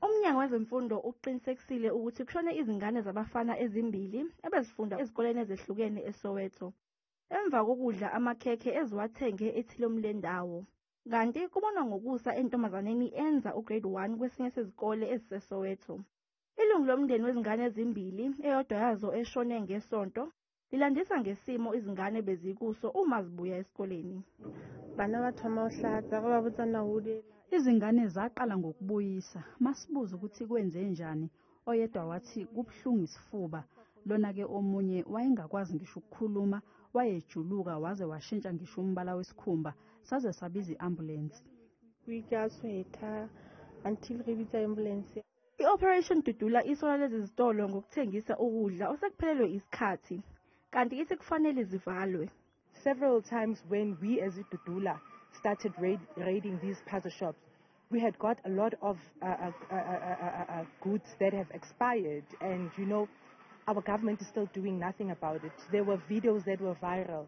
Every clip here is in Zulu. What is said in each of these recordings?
UMnyango wezeMfundo ukuqinisekisile ukuthi kushone izingane zabafana ezimbili ebezifunda ezikoleni ezehlukene eSoweto emva kokudla amakhekhe eziwathenge ethilom lendawo. Kanti kubonwa ngokusa entombazaneni enza uGrade 1 kwesinye sezikole eziseSoweto. Ilungu lomndeni wezingane ezimbili, eyodwa yazo eshone ngeSonto, Lilandisa ngesimo izingane bezikuso uma zibuya esikoleni. Bana ba thoma u hlatsa ba ba botsa na o le Izingane zaqala ngokubuyisa. Masibuza ukuthi kwenzenjani, oyedwa wathi kubuhlungu isifuba. Lona-ke omunye wayengakwazi ngisho ukukhuluma, wayejuluka waze washintsha ngisho umbala wesikhumba. Saze sabiza i-ambulensi. Kuikasweta until re bitsa ambulance. I-Operation Dudula isola lezi zitolo ngokuthengisa ukudla osekuphelelwe isikhathi kanti ithi kufanele zivalwe. Several times when we as Dudula started raid, raiding these pazo shops, we had got a lot of uh, uh, uh, uh, uh, uh goods that have expired and you know our government is still doing nothing about it. There were videos that were viral.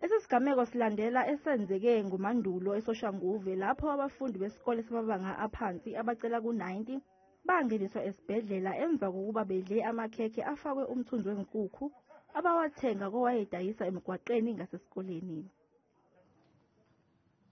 Lesi sigameko silandela esenzeke ngoMandulo eSoshanguve lapho abafundi besikole samabanga aphansi abacela ku-90 bangeniswa esibhedlela emva kokuba bedle amakhekhe afakwe umthunzi wenkukhu abawathenga kowayedayisa emgwaqeni ngasesikoleni.